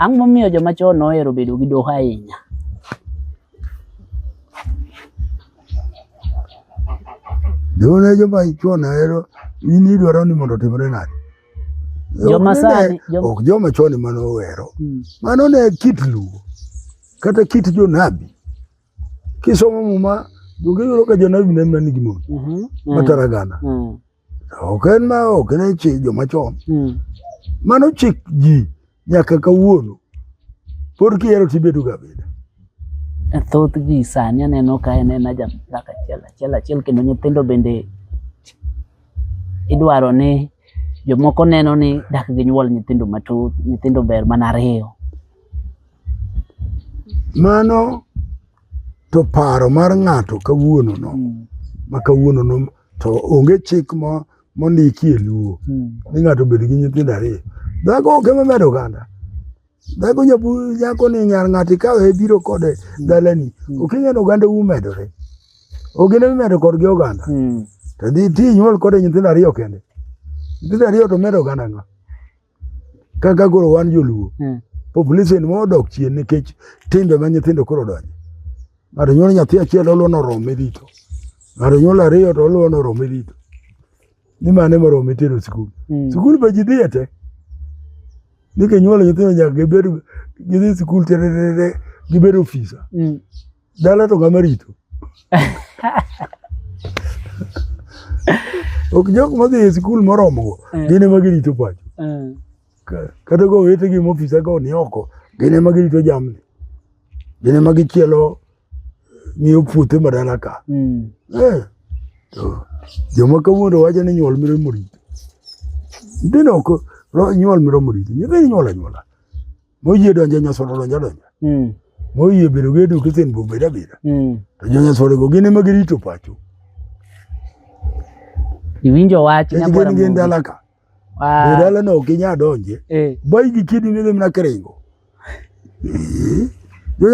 Ang'o momiyo joma chon nohero bedo gi doho ahinya? Doho ne joma chon ohero in idwaro ni mondo otimre nade? Joma Ok ne- sani- joma- ok joma chon ema nohero Mm. mano ne kit luo kata kit jonabi kisomo muma donge yudo ka jonabi ne manigi mon Mhm. matara gana Mm. Ok en ma ok ne chi joma chon. Mm. Mano chik ji nyaka kawuono. Pod kiero tibedo ga beda. E thoth ji sani aneno ka en en aja dhaka achiel achiel achiel kendo nyithindo bende idwaro ni jomoko neno ni dak gi nyuol nyithindo matut nyithindo ber mana ariyo. Mano to paro mar ng'ato kawuono no mm. ma kawuono no to onge chik mo mondiki e luo mm. ni ng'ato bedo gi nyithindo ariyo dhako ok ema medo oganda dhako nyabu nyako ni nyar ng'ato ikawe biro kode mm. dalani mm. ok ing'eyo oganda u medore ogene mimedo kodgi oganda mm. to dhi ti nyuol kode nyithindo ariyo kende nyithindo ariyo to medo oganda ng'a kaka koro wan joluo mm. population mo odok chien nikech timbe ma nyithindo koro donjo ng'ato nyuolo nyathi achiel oluwo norome rito ng'ato nyuolo ariyo to oluwo norome rito ni mane morome tero sikul mm. sikul be ji dhiye te ni kinyuolo nyithindo nyaka gibed gidhi sikul tererere gibed ofisa mm. Dala to ng'ama rito. Ok jok madhi e sikul moromogo, eh. gin ema girito pacho. Eh. Kata go wete gi mofisa go ni oko, gin ema girito jamni. Gin ema gichielo ng'iyo puothe madala ka. Hmm. Eh. Joma kawuono wacho ni nyuol miro morito. Nyithindo ok nyuol miro morito. Nyithindo nyuol anyuola. moyie donjo nyasore donjo donjo mm. moyie bedo gi education bo bedo abeda mm. to jo nyasore go gin ema girito pacho iwinjo wach nyabora gin gin dala ka ah. dala no ok inya donje eh. bai gi kidi ne dem na krengo eh.